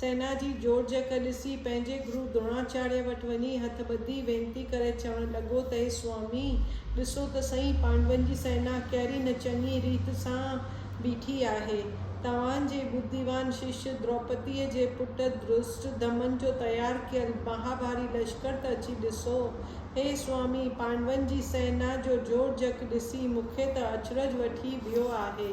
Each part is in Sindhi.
سينا جي جوڙجڪ ڏسي پنهنجي گرو دروڻاچاريه وٽ وڃي هٿ ٻڌي وينتي ڪري چوڻ لڳو ته اي سوامي! ڏسو ته سهي پانڊون جي سينا ڪهڙي نه چڱي ريت سان بيٺي آهي. توهان جي ٻڌيوان شش دروپديء جي پٽ درشٽ ڌمن جو تيار ڪيل مهاڀاري لشڪر ته اچي ڏسو. هي سوامي! پانڊون جي سينا جو جوڙجڪ ڏسي مون کي ته اچرج وٺي ويو آهي.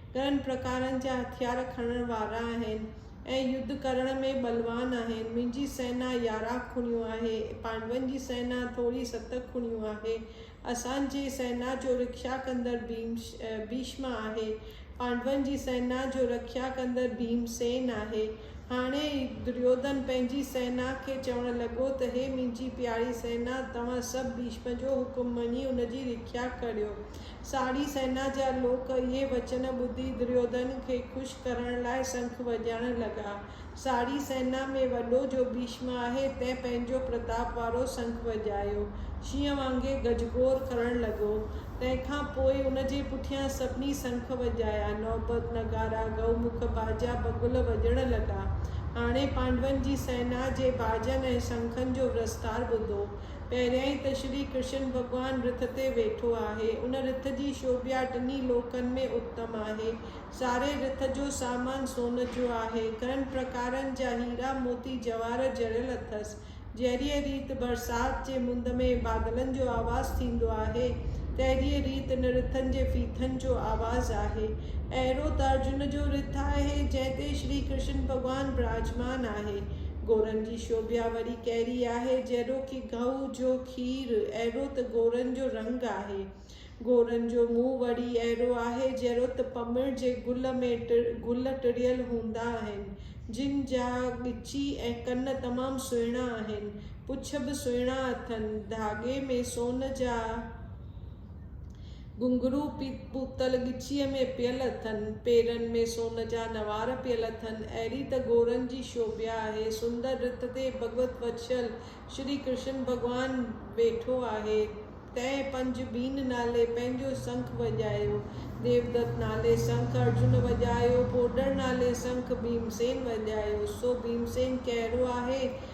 گهڻن پرڪارن جا هٿيار کڻڻ وارا آهن ۽ يڌ ڪرڻ ۾ ٻلوان آهن. منهنجي سئنا يارهن کڻيون آهي. پانڊون جي سئنا ٿوري ست کڻيون آهي. اسان جي سئنا جو رکيا ڪندڙ ڀيشم آهي. پانڊون جي سئنا جو رکيا ڪندڙ ڀيم سين آهي. هاڻي دريوڌن پنهنجي سئنا کي چوڻ لڳو ته هي منهنجي پياري سئنا، توهان سڀ ڀيشم جو حڪم مڃي ان جي رکيا ڪريو. ساڙهي سينا جا لوڪ اهي وچن ٻڌي دريوڌن کي خوش ڪرڻ لاء سنک وڄائڻ لڳا. ساڙهي سينا ۾ وڏو جو ڀيشم آهي، تنهن پنهنجو پرتاپ وارو سنک وڄايو. شينهن وانگي گجگوڙ ڪرڻ لڳو. تنهن کان پوء ان جي پٺيان سڀني سنک وڄايا. نوبت، نغارا، گئو مک، باجا، بگل وڄڻ لڳا. هاڻي پانڊون جي سينا جي باجن ۽ سنکن جو ورستار ٻڌو. پهريائين ته شري ڪرشن ڀڳوان رٿ تي ويٺو آهي. ان رٿ جي شوڀيا ٽنهي لوڪن ۾ اتم آهي. ساري رٿ جو سامان سون جو آهي. گهڻن پرڪارن جا هيرا موتي جواهر جڙيل اٿس. جهڙيء ريت برسات جي مند ۾ بادلن جو آواز ٿيندو آهي، تهڙيء ريت ان رٿن جي ڦيٿن جو آواز آهي. اهڙو ته ارجن جو رٿ آهي، جنهن تي شري ڪرشن ڀڳوان براجمان آهي. گورن جي شوڀيا وري ڪهڙي آهي؟ جهڙوڪي گهوء جو کير، اهڙو ته گورن جو رنگ آهي. گورن جو منهن وري اهڙو آهي، جهڙو ته پنبڻ جي گل ۾ گل ٽڙيل هوندا آهن، جن جا ڳچي ۽ ڪن تمام سهڻا آهن، پڇ به سهڻا اٿن، ڌاڳي ۾ سون جا گهنگهرو پوتل ڳچيء ۾ پيل اٿن، پيرن ۾ سون جا نوار پيل اٿن، اهڙي ته گورن جي شوڀيا آهي، سندر رت تي ڀڳوت وتشل شري ڪرشن ڀڳوان ويٺو آهي، تنهن پنج بين نالي پنهنجو سنک وڄايو، ديودت نالي سنک ارجن وڄايو، پوڏر نالي سنک ڀيمسين وڄايو، سو ڀيمسين ڪهڙو آهي؟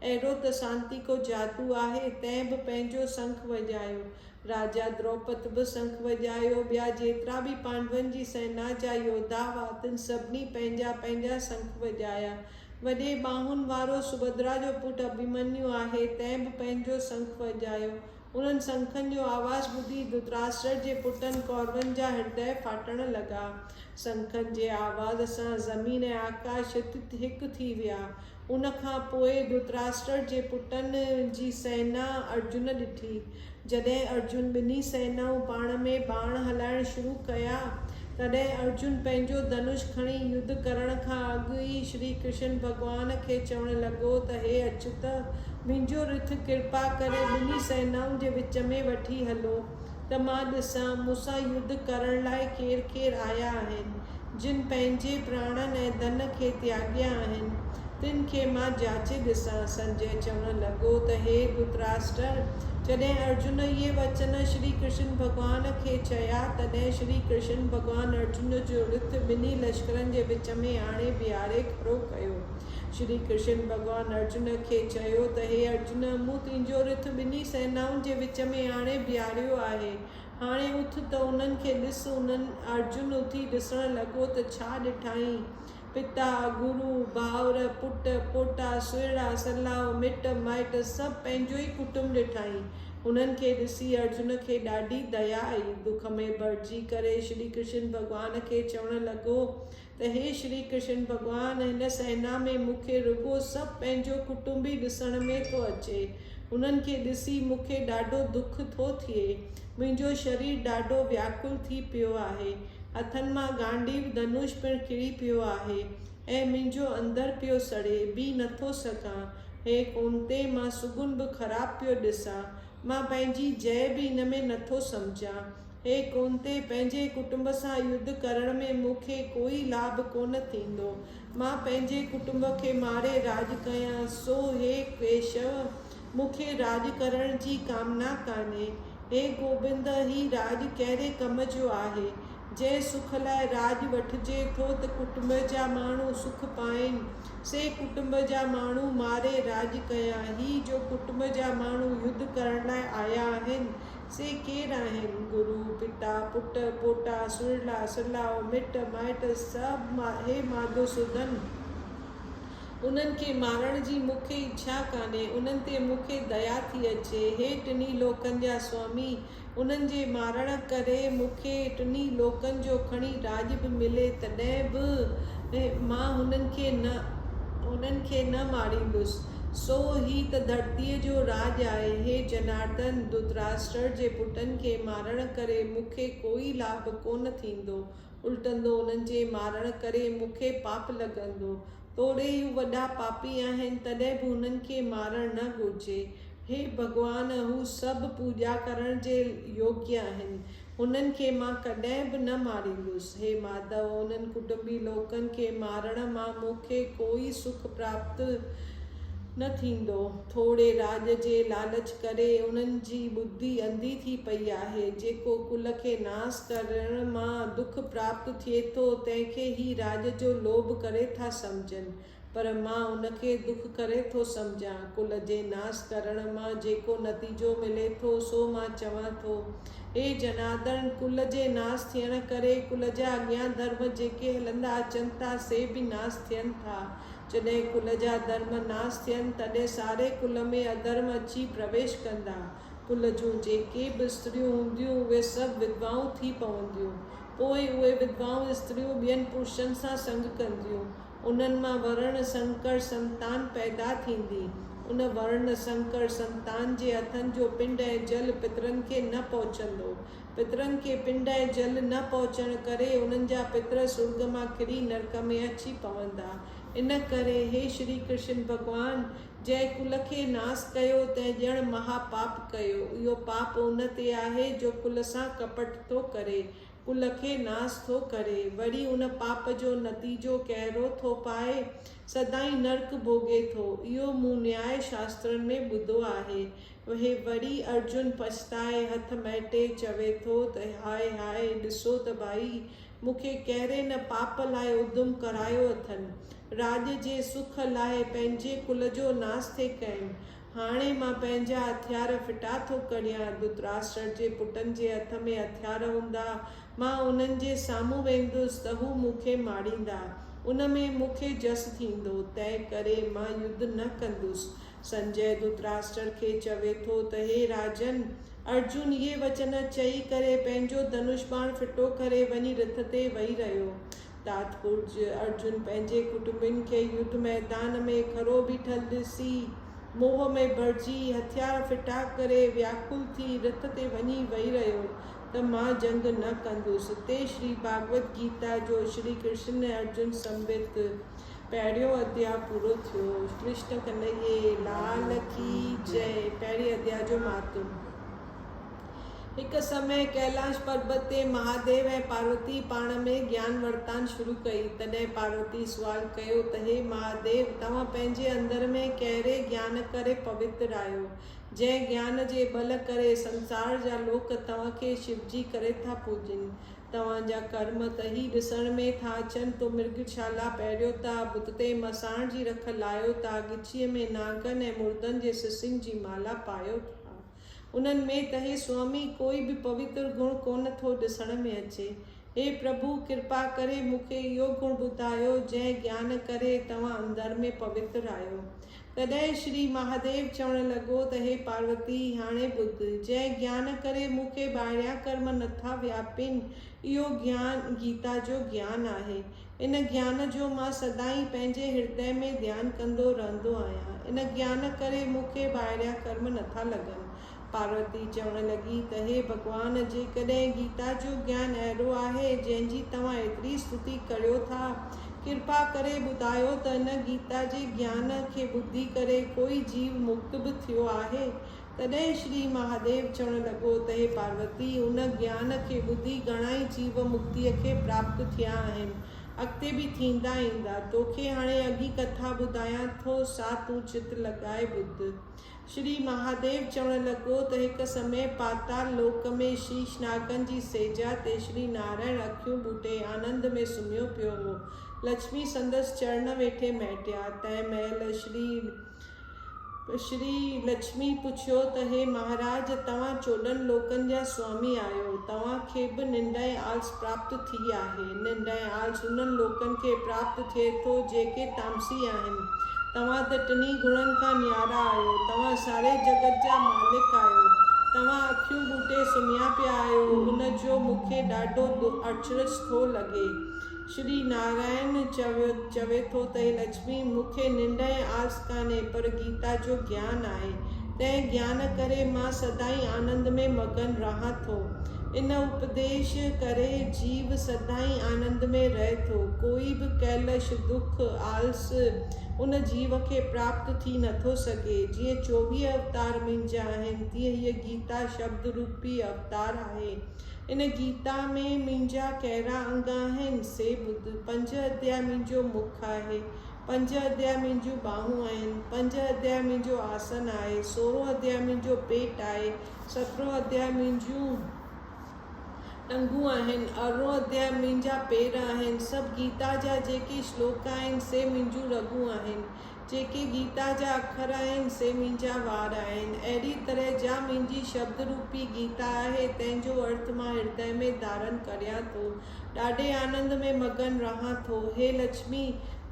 اهڙو ته سانتي ڪو جادو آهي، تنهن به پنهنجو سنک وڄايو. راجا دروپد به سنک وڄايو، ٻيا جيترا به پانڊون جي سينا جا يوڌا هئا، تن سڀني پنهنجا پنهنجا سنک وڄايا. وڏي ٻانهن وارو سڀدرا جو پٽ اڀيمنيو آهي، تنهن به پنهنجو سنک وڄايو. انهن سنکن جو آواز ٻڌي ڌتراشٽر جي پٽن ڪورون جا هردئه ڦاٽڻ لڳا. سنکن جي آواز سان زمين ۽ آڪاش هت هڪ ٿي ويا. ان کان پوء ڌرتراشٽر جي پٽن جي سينا ارجن ڏٺي. جڏهن ارجن ٻنهي سينائون پاڻ ۾ ٻاڻ هلائڻ شروع ڪيا، تڏهن ارجن پنهنجو ڌنوش کڻي يڌ ڪرڻ کان اڳ ئي شري ڪرشن ڀڳوان کي چوڻ لڳو ته هي اچيوت! منهنجو رٿ ڪرپا ڪري ٻنهي سينائن جي وچ ۾ وٺي هلو. ته مان ڏسان، مون سان يڌ ڪرڻ لاء ڪير ڪير آيا آهن، جن پنهنجي پراڻن ۽ ڌن کي تياڳيا آهن، تن کي مان جاچي ڏسان. سنجئه چوڻ لڳو ته هي ڌرتراشٽر! جڏهن ارجن اهي وچن شري ڪرشن ڀڳوان کي چيا، تڏهن شري ڪرشن ڀڳوان ارجن جو رٿ ٻنهي لشڪرن جي وچ ۾ آڻي بيهاري کڙو ڪيو. شري ڪرشن ڀڳوان ارجن کي چيو ته هي ارجن! مون تنهنجو رٿ ٻنهي سينائن جي وچ ۾ آڻي بيهاريو آهي. هاڻي اٿ ته انهن کي ڏس. انهن، ارجن، اٿي ڏسڻ لڳو ته ڇا ڏٺائين؟ پتا، گرو، ڀائر، پٽ، پوٽا، سهيڙا، سلاء، مٽ، مائٽ سڀ پنهنجو ئي ڪٽنب ڏٺائين. هنن کي ڏسي ارجن کي ڏاڍي ديا آئي. دک ۾ ڀرجي ڪري شري ڪرشن ڀڳوان کي چوڻ لڳو ته هي شري ڪرشن ڀڳوان هن سينا ۾ مون کي رڳو سڀ پنهنجو ڪٽنب ئي ڏسڻ ۾ ٿو اچي. هنن کي ڏسي مون کي ڏاڍو دک ٿو ٿئي. منهنجو شرير ڏاڍو وياڪل ٿي پيو آهي. هٿن مان گانڊيو ڌنوش پڻ ڪري پيو آهي ۽ منهنجو اندر پيو سڙي. بيهي نٿو سگهان. هي ڪونتي مان سگهن به خراب پيو ڏسان. مان پنهنجي جئه به ان ۾ نٿو سمجهان. هي ڪونتي پنهنجي ڪٽنب سان يڌ ڪرڻ ۾ مون کي ڪوئي لاڀ ڪونه ٿيندو. مان پنهنجي ڪٽنب کي ماري راڄ ڪيان، سو هي ڪيشو، مون کي راڄ ڪرڻ جي ڪامنا ڪانهي. هي گوبند، هي راڄ ڪهڙي ڪم جو آهي؟ جنهن سک لاء راڄ وٺجي ٿو ته ڪٽنب جا ماڻهو سک پائين، سي ڪٽنب جا ماڻهو ماري راڄ ڪيان. هي جو ڪٽنب جا ماڻهو يڌ ڪرڻ لاء آيا آهن، سي ڪير آهن؟ گرو، پتا، پٽ، پوٽا، سرلا، سرلاؤ، مٽ، مائٽ، سڀ هي ماڌو سودن. انهن کي مارڻ جي مون کي اڇا ڪانهي. انهن تي مون کي ديا ٿي اچي. هي ٽنهي لوڪن جا سوامي. انهن جي مارڻ ڪري مون کي ٽنهي لوڪن جو کڻي راڄ به ملي تڏهن به مان هنن کي نه هنن کي نه ماريندس. سو هي ته ڌرتيء جو راڄ آهي. هي جنارڌن، ڌرتراشٽر جي پٽن کي مارڻ ڪري مون کي ڪوئي لاڀ ڪونه ٿيندو. الٽندو انهن جي مارڻ ڪري مون کي پاپ لڳندو. توڙي هو وڏا پاپي آهن، تڏهن به هنن کي مارڻ نه گهرجي. هي ڀڳوان! هو سڀ پوڄا ڪرڻ جي يوگيه آهن. انهن کي مان ڪڏهن به نه ماريندس. هي ماڌو! انهن ڪٽنبي لوڪن کي مارڻ مان مون کي ڪوئي سک پراپت نه ٿيندو. ٿوري راڄ جي لالچ ڪري انهن جي ٻڌي انڌي ٿي پئي آهي. جيڪو ڪل کي ناس ڪرڻ مان دک پراپت ٿئي ٿو، تنهن کي هي راڄ جو لوڀ ڪري ٿا سمجهن. پر مان ان کي دک ڪري ٿو سمجهان. ڪل جي ناس ڪرڻ مان جيڪو نتيجو ملي ٿو سو مان چوان ٿو. هي جنادڻ ڪل جي ناس ٿيڻ ڪري ڪل جا اڳيان ڌرم جيڪي هلندا اچن ٿا سي به ناس ٿين ٿا. جڏهن ڪل جا ڌرم ناس ٿين تڏهن ساري ڪل ۾ اڌرم اچي پرويش ڪندا. ڪل جون جيڪي به استريون هونديون اهي سڀ وڌوائون ٿي پونديون. پوء اهي وڌوائون استريون ٻين پرشن سان سنگ ڪنديون. انهن مان ورڻ سنڪر سنتان پيدا ٿيندي. ان ورڻ سنڪر سنتان جي هٿن جو پنڊ ۽ جل پترن کي نه پهچندو. پترن کي پنڊ ۽ جل نه پهچڻ ڪري انهن جا پتر سرڳ مان ڪري نرڪ ۾ اچي پوندا. ان ڪري هي شري ڪرشن ڀڳوان، جنهن ڪل کي ناس ڪيو، تنهن ڄڻ مها پاپ ڪيو. اهو پاپ ان تي آهي، جو ڪل سان ڪپٽ ٿو ڪري. ڪل کي ناس ٿو ڪري، وري ان پاپ جو نتيجو ڪهڙو ٿو پائي؟ سدائين نرڪ ڀوڳي ٿو. اهو مون نياء شاسترن ۾ ٻڌو آهي. هي وري ارجن پڇتائي، هٿ مهٽي چوي ٿو ته هاء هاء، ڏسو ته ڀائي، مون کي ڪهڙي نه پاپ لاء ادم ڪرايو اٿن. راڄ جي سک لاء پنهنجي ڪل جو ناس ٿي ڪين. هاڻي مان پنهنجا هٿيار ڦٽا ٿو ڪريان. ڌرتراشٽر جي پٽن جي هٿ ۾ هٿيار هوندا، مان انهن جي سامهون ويندس ته هو مون کي ماريندا. ان ۾ مون کي جس ٿيندو، تنهن ڪري مان يڌ نه ڪندس. سنجئه ڌرتراشٽر کي چوي ٿو ته هي راجن! ارجن اهي وچن چئي ڪري پنهنجو ڌنوش باڻ ڦٽو ڪري وڃي رٿ تي ويهي رهيو. تات پورج ارجن پنهنجي ڪٽنبين کي يڌ ميدان ۾ کڙو بيٺل ڏسي، موهه ۾ ڀرجي، هٿيار ڦٽا ڪري، وياڪل ٿي، رٿ تي وڃي ويهي رهيو ته مان جنگ نه ڪندس. اتي شري ڀاڳوت گيتا جو شري ڪرشن ۽ ارجن سنڀت پهريون اڌيا پورو ٿيو. ڪرشن ڪنهيي لال ڪي جئه. پهرين اڌيا جو مهاتم. هڪ سمي ڪيلاش پربت تي مهاديو ۽ پاروتي پاڻ ۾ گيان ورتان شروع ڪئي. تڏهن پاروتي سوال ڪيو ته هي مهاديو توهان پنهنجي اندر ۾ ڪهڙي گيان ڪري پوتر آهيو، جنهن گيان جي ٻل ڪري سنسار جا لوڪ توهان کي شوجي ڪري ٿا پوڄين. توهان جا ڪرم ته هي ڏسڻ ۾ ٿا اچن تو مرگ شالا پهريو ٿا، بت تي مساڻ جي رک لايو ٿا، ڳچيء ۾ نانگن ۽ مردن جي سسين جي مالا پايو ٿا. انهن ۾ ته هي سوامي ڪوئي به پوتر گڻ ڪونه ٿو ڏسڻ ۾ اچي. هي پرڀو ڪرپا ڪري مون کي اهو گڻ ٻڌايو جنهن گيان ڪري توهان اندر ۾ پوتر آهيو. تڏهن شري مهاديو چوڻ لڳو ته هي پاروتي هاڻي ٻڌ، جنهن گيان ڪري مون کي ٻاهريان ڪرم نٿا وياپين اهو گيان گيتا جو گيان آهي. ان گيان جو مان سدائين پنهنجي هردئه ۾ ڌيان ڪندو رهندو آهيان. ان گيان ڪري مون کي ٻاهريان ڪرم نٿا لڳن. پاروتي چوڻ لڳي ته هي ڀڳوان! جيڪڏهن گيتا جو گيان اهڙو آهي، جنهن جي توهان ايتري استتي ڪريو ٿا، ڪرپا ڪري ٻڌايو ته ان گيتا جي گيان کي ٻڌي ڪري ڪوئي جيو مڪت به ٿيو آهي؟ تڏهن شري مهاديو چوڻ لڳو ته هي پاروتي، ان گيان کي ٻڌي گهڻائي جيو مڪتيء کي پراپت ٿيا آهن، اڳتي به ٿيندا ايندا. توکي هاڻي اڳي ڪٿا ٻڌايان ٿو، سا تون چت لڳائي ٻڌ. شري مهاديو چوڻ لڳو ته هڪ سمي پاتال لوڪ ۾ شيش ناگن جي سيجا تي شري نارائڻ اکيون ٻوٽي آنند ۾ سمهيو پيو هو. لڇمي سندس چرڻ ويٺي مهٽيا. تنهن مهل شري. شري لڇمي پڇيو ته هي مهاراج توهان چوڏهن لوڪن جا سوامي آهيو، توهان کي به ننڊ ۽ آلس پراپت ٿي آهي. ننڊ ۽ آلس انهن لوڪن کي پراپت ٿئي ٿو جيڪي تامسي آهن. توهان ته ٽنهي گڻن کان نيارا آهيو. توهان ساري جڳت جا مالڪ آهيو. توهان اکيون ٻوٽي سمهيا پيا آهيو. ان جو مون کي ڏاڍو اچرج ٿو لڳي. شري نارائڻ چوي چوي ٿو ته، هي لڇمي! مون کي ننڊ ۽ آس ڪانهي، پر گيتا جو گيان آهي. تنهن گيان ڪري مان سدائين آنند ۾ مگن رهان ٿو. ان اپديش ڪري جيو سدائين آنند ۾ رهي ٿو. ڪوئي به ڪيلش، دک، آلس، ان جيو کي پراپت ٿي نه ٿو سگهي. جيئن چوويهه اوتار منهنجا آهن، تيئن هيء گيتا شبد روپي اوتار آهي. ان گيتا ۾ منهنجا ڪهڙا انگ آهن، سي ٻڌ. پنج اديا منهنجو مک آهي، پنج اديا منهنجون ٻانهون آهن، پنج اديا منهنجو آسن آهي، سورهون اديا منهنجو پيٽ آهي، سترهون اديا منهنجون ٽنگون آهن، ارڙهون اديا منهنجا پير آهن، سڀ گيتا جا جيڪي شلوڪ آهن، سي منهنجون رڳون آهن. جيڪي گيتا جا اکر آهن، سي منهنجا وار آهن. اهڙيء طرح جا منهنجي شبد روپي گيتا آهي، تنهن جو ارٿ مان هردئه ۾ ڌارن ڪريان ٿو. ڏاڍي آنند ۾ مگن رهان ٿو. هي لڇمي!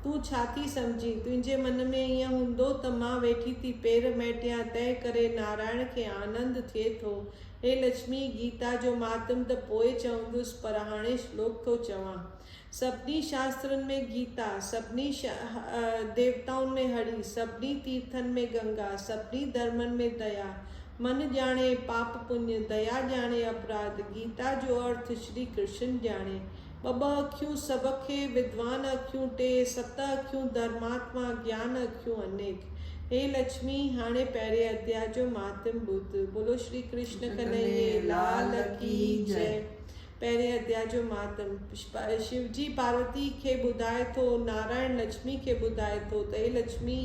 تون ڇا ٿي سمجهين؟ تنهنجي من ۾ ائين هوندو ته مان ويٺي ٿي پير مهٽيان، تنهن ڪري نارائڻ کي آنند ٿئي ٿو. هي لڇمي! گيتا جو مهاتم ته پوء چوندس، پر هاڻي شلوڪ ٿو چوان. سڀني شاسترن ۾ گيتا، سڀني ديوتائن ۾ هري، سڀني تيرٿن ۾ گنگا، سڀني ڌرمن ۾ ديا، من ڄاڻي پاپ پڃ، ديا ڄاڻي اپراڌ، گيتا جو ارٿ شري ڪرشن ڄاڻي. ٻه ٻه اکيون سڀ کي، ودوان اکيون ٽي، ست اکيون ڌرماتما، گيان اکيون انيڪ. هي لڇمي، هاڻي پهرين اڌيا جو مهاتم ٻڌ. بولو شري ڪرشن ڪنهيي لال ڪي جئي. پهرين اديا جو مهاتم شوجي پاروتي کي ٻڌائي ٿو، نارائڻ لڇمي کي ٻڌائي ٿو ته هي لڇمي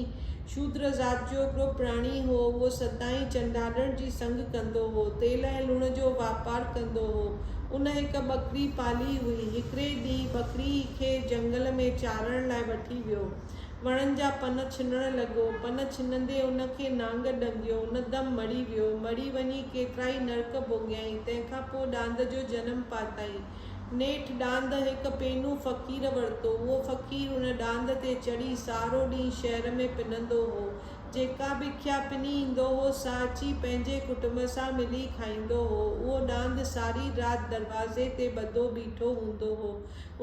شودر ذات جو هڪڙو پراڻي هو، اهو سدائين چنڊالڻ جي سنگ ڪندو هو، تيل ۽ لوڻ جو واپار ڪندو هو، ان هڪ ٻڪري پالي هئي، هڪڙي ڏينهن ٻڪري کي جهنگل ۾ چارڻ لاء وٺي ويو، وڻن جا پن ڇنڻ لڳو. پن ڇنندي ان کي نانگ ڏنگيو. ان دم مڙي ويو. مڙي وڃي ڪيترائي نرڪ ڀوڳيائين. تنهن کان پوء ڏاند جو جنم پاتائين. نيٺ ڏاند هڪ پينو فقير ورتو. اهو فقير ان ڏاند تي چڙهي سارو ڏينهن شهر ۾ پنندو هو. جيڪا به کيا پني ايندو هو، سا اچي پنهنجي ڪٽنب سان ملي کائيندو هو. اهو ڏاند ساري رات دروازي تي ٻڌو بيٺو هوندو هو.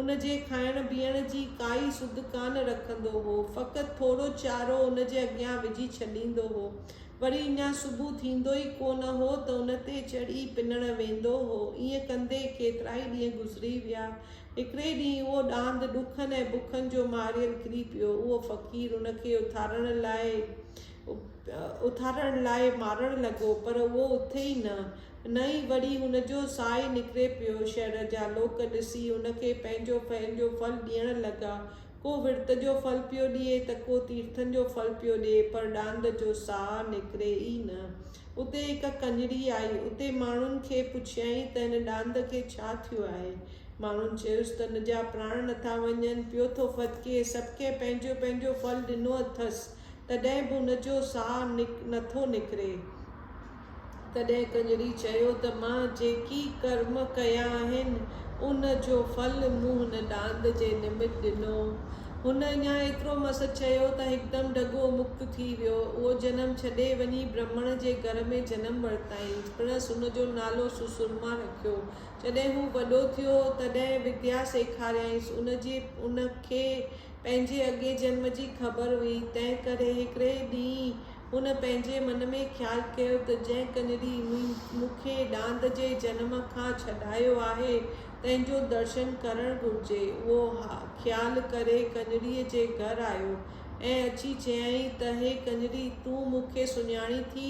ان جي کائڻ بيهڻ جي ڪائي سڌ ڪانه رکندو هو. فقط ٿورو چارو ان جي اڳيان وجهي ڇڏيندو هو. وري اڃا صبح ٿيندو ئي ڪو نه هو ته ان تي چڙهي پنڻ ويندو هو. ائين ڪندي ڪيترائي ڏينهن گذري ويا. هڪڙي ڏينهن اهو ڏاند ڏکن ۽ بکن جو ماريل ڪري پيو. اهو فقير ان کي اٿارڻ لاء اٿارڻ لاء مارڻ لڳو پر اهو اٿي ئي نه. نه ئي وري هن جو ساهي نڪري پيو. شهر جا لوڪ ڏسي هن کي پنهنجو پهل جو ڦل ڏيڻ لڳا. ڪو ورت جو ڦل پيو ڏئي ته ڪو تيرٿن جو ڦل پيو ڏئي پر ڏاند جو ساهه نڪري ئي نه. اتي هڪ ڪڃري آئي. اتي ماڻهن کي پڇيائين ته هن ڏاند کي ڇا ٿيو آهي؟ ماڻهن چيس ته هن جا پراڻ نٿا وڃن، پيو ٿو ڦٿڪي، سڀ ڪنهن پنهنجو پنهنجو ڦل ڏنو اٿس، تڏهن به هن جو ساهه نٿو نڪري. تڏهن ڪنجري چيو ته مان جيڪي ڪرم ڪيا آهن، ان جو ڦل مون هن ڏاند جي نمت ڏنو. هن اڃا ايترو مس چيو ته هڪدم ڍڳو مڪت ٿي ويو. اهو جنم ڇڏي وڃي برهمڻ جي گهر ۾ جنم ورتائين. پڻس ان جو نالو سسرما رکيو. جڏهن هو وڏو ٿيو، تڏهن وديا سيکاريائينس. ان جي ان کي پنهنجي اڳئين جنم جي خبر هئي، تنهنڪري هڪڙي ڏينهن هن پنهنجي من ۾ خيال ڪيو ته جنهن ڪنري مون کي ڏاند جي جنم کان ڇڏايو آهي، تنهن جو درشن ڪرڻ گهرجي. اهو خيال ڪري ڪنريء جي گهر آيو ۽ اچي چيائين ته هي ڪنري، تون مون کي سڃاڻين ٿي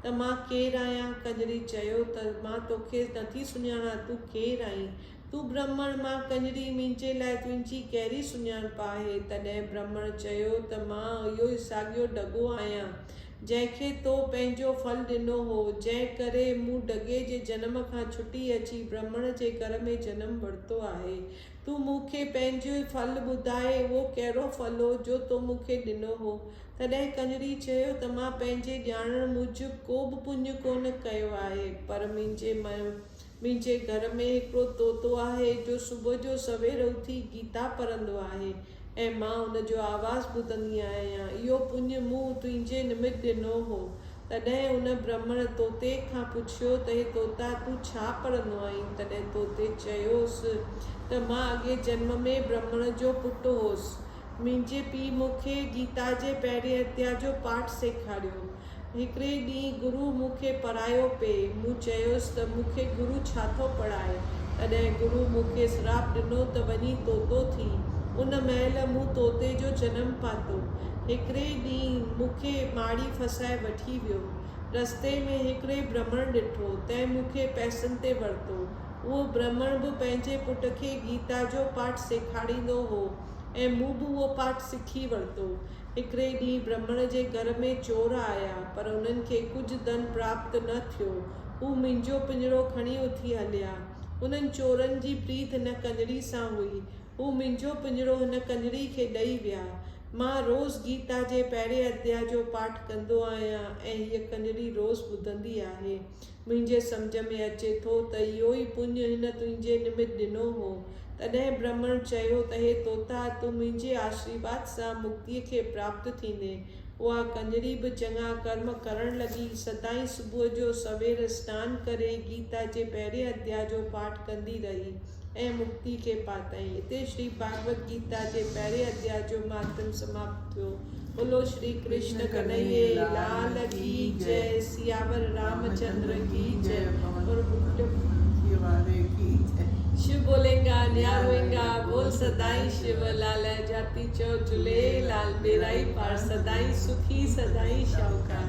ته مان ڪير آهيان؟ ڪنري چيو ته مان توکي نٿي سڃاڻان، تون ڪير آهين؟ تون برهمڻ مان ڪڃري منهنجي لاء تنهنجي ڪهڙي سڃاڻپ آهي؟ تڏهن برهمڻ چيو ته مان اهو ئي ساڳيو ڍڳو آهيان، جنهن کي تو پنهنجو ڦل ڏنو هو، جنهن ڪري مون ڍڳي جي جنم کان ڇٽي اچي برهمڻ جي گهر ۾ جنم ورتو آهي. تون مون کي پنهنجو ڦل ٻڌاء، اهو ڪهڙو ڦل هو، جو تو مون کي ڏنو هو؟ تڏهن ڪڃري چيو ته مان پنهنجي ڄاڻڻ موجب ڪو به پڃ ڪونه ڪيو آهي، پر منهنجي منهنجي گهر ۾ هڪڙو طوطو آهي جو صبح جو سوير اٿي گيتا پڙهندو آهي ۽ مان ان جو آواز ٻڌندي آهيان. اهو پڃ مون تنهنجي نمت ڏنو هو. تڏهن ان برهمڻ طوطي کان پڇيو ته هي طوطا تون ڇا پڙهندو آهين؟ تڏهن طوطي چيوس ته مان اڳئين جنم ۾ برهمڻ جو پٽ هوس. منهنجي پيء مون کي گيتا جي پهرين اديا جو پاٺ سيکاريو. هڪڙي ڏينهن گرو مون کي پڙهايو پئي. مون چيس ته مون کي گرو ڇا ٿو پڙهائي؟ تڏهن گرو مون کي سراپ ڏنو ته وڃي طوطو ٿي. ان مهل مون طوطي جو جنم پاتو. هڪڙي ڏينهن مون کي ماڙي ڦسائي وٺي ويو. رستي ۾ هڪڙي برهمڻ ڏٺو، تنهن مون کي پئسن تي ورتو. اهو برهمڻ به پنهنجي پٽ کي گيتا جو پاٺ سيکاريندو هو ۽ مون به اهو پاٺ سکي ورتو. هڪڙي ڏينهن برهمڻ جي گهر ۾ چور آيا، پر انهن کي ڪجهه ڌن پراپت نه ٿيو. هو منهنجو پڃرو کڻي اٿي هليا. انهن چورن جي پريت هن ڪڃري سان هئي. هو منهنجو پڃرو هن ڪڃري کي ڏئي ويا. مان روز گيتا جي پهرين اڌيا جو پاٺ ڪندو آهيان ۽ هيء ڪڃري روز ٻڌندي آهي. منهنجي سمجهه ۾ اچي ٿو ته اهو ئي پڃ هن تنهنجي نمت ڏنو هو. تڏهن برهمڻ چيو ته هي طوطا، تون منهنجي آشريواد سان مڪتيء کي پراپت ٿيندين. اها ڪنجري به چڱا ڪرم ڪرڻ لڳي. سدائين صبح جو سوير سنان ڪري گيتا جي پهرئين اديا جو پاٺ ڪندي رهي. ۽ مڪتي کي پاتائين. اتي شري ڀاڳوت گيتا جي پهرين اڌيا جو مهاتم سماپت ٿيو. ٻولو شري ڪرشن ڪنهيي لال ڪي جئه سياور رام چندر ڪي جئه اور ڀٽي واري ڪي جئه. شو بولينگا نيا روئينگا بول سدائين شو لالئ جاتي چئو جهليي لال پيرائي پار سدائين سکي سدائين شاهوڪار.